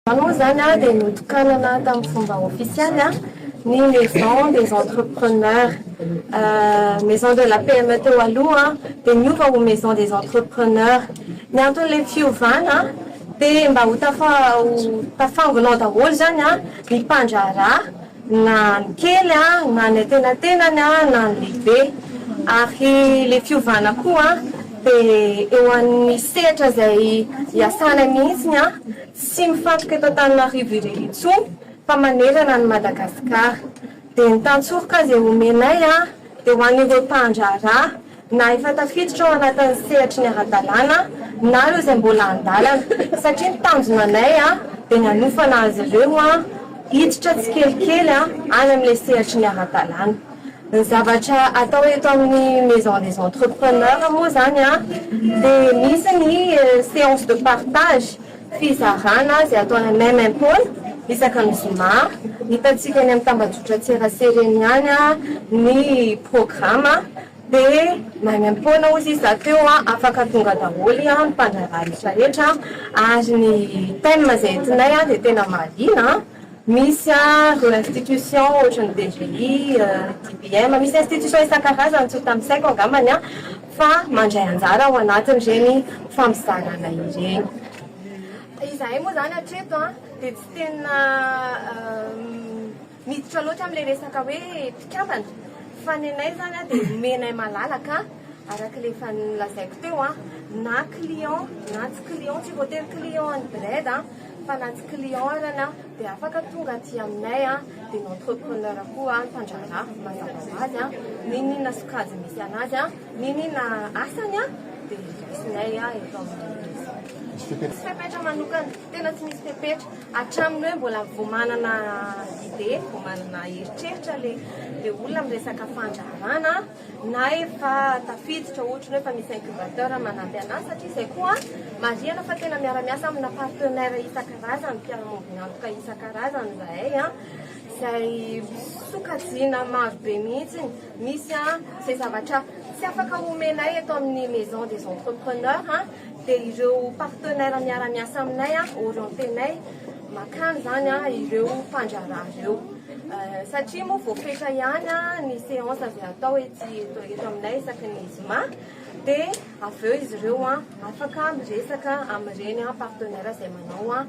Aloha izany dia notokanana tamin'ny fomba ofisialy ny Maison des Entrepreneurs. Maison de la PME teo aloha dia niova ho Maison des Entrepreneurs. Ny anton'ilay fiovana dia mba ho tafangona ao daholo izany ny mpandraharaha na ny kely na ny antenatenany na ny lehibe. Ary ilay fiovana koa dia eo amin'ny sehatra izay hiasana mihitsy. Tsy mifantoka eto Antananarivo irery intsony fa manerana an'i Madagasikara. Dia ny tantsoroka aza e omenay a! Dia ho an'ireo mpandraharaha na efa tafiditra ao anatin'ny sehatry ny ara-dalàna na ireo izay mbola an-dalana. Satria ny tanjona anay a dia ny hanofana azy ireo a hiditra tsikelikely a any amin'ilay sehatry ny ara-dalàna. Ny zavatra atao eto amin'ny Maison des Entrepreneurs moa izany dia misy ny séance de partage, fizarana izay atao any amin'ny MMPole isaka ny zoma. Hitantsika eny amin'ny tambajotran-tserasera eny ihany ny programa dia na any am-poana hozy izy zato eo afaka tonga daholo ny mpandraharaha rehetra rehetra ary ny thème izay entinay dia tena mahaliana. Misy an, institution ohatra ny DGI, DBM, misy institution isan-karazany tsy ho tanisaiko angambany an, fa mandray anjara ao anatin'ireny fampizarana ireny. Izahay moa izany hatreto an, dia tsy tena miditra loatra amin'ilay resaka hoe mpikambana, fa ny anay izany an dia omenay malalaka araka ilay efa nolazaiko teo an, na client na tsy client, tsy voatery client ny BRED an, Fa na tsy client ary ianao dia afaka tonga aty aminay an, dia ny entrepreneur koa an, mpandraharaha, mazava ho azy an, n'inon'inona sokajy misy anazy an, n'inon'inona asany an, dia raisinay an eto amin'ny Misy fepetra? Misy fepetra manokana, tena tsy misy fepetra, hatramin'ny hoe mbola vao manana idée, vao manana eritreritra ilay olona miresaka fandraharahana an, na efa tafiditra ohatry ny hoe efa misy incubateur manampy anazy satria izay koa marihana fa tena miara-miasa amina partenaire isan-karazany mpiara-maombina antoka isan-karazany izahay a izay sokajiana maro be mihitsy misy a izay zavatra tsy afaka homenay eto amin'ny maison des entrepreneurs dia ireo partenaire miara-miasa aminay a orientenay makany izany ireo mpandraharaha ireo satria moa vao fetra ihany ny séance avy atao etsy eto aminay isaky ny zoma dia avy eo izy ireo an afaka miresaka amin'ireny an partenaire izay manao an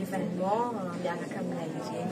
événement miaraka aminay ireny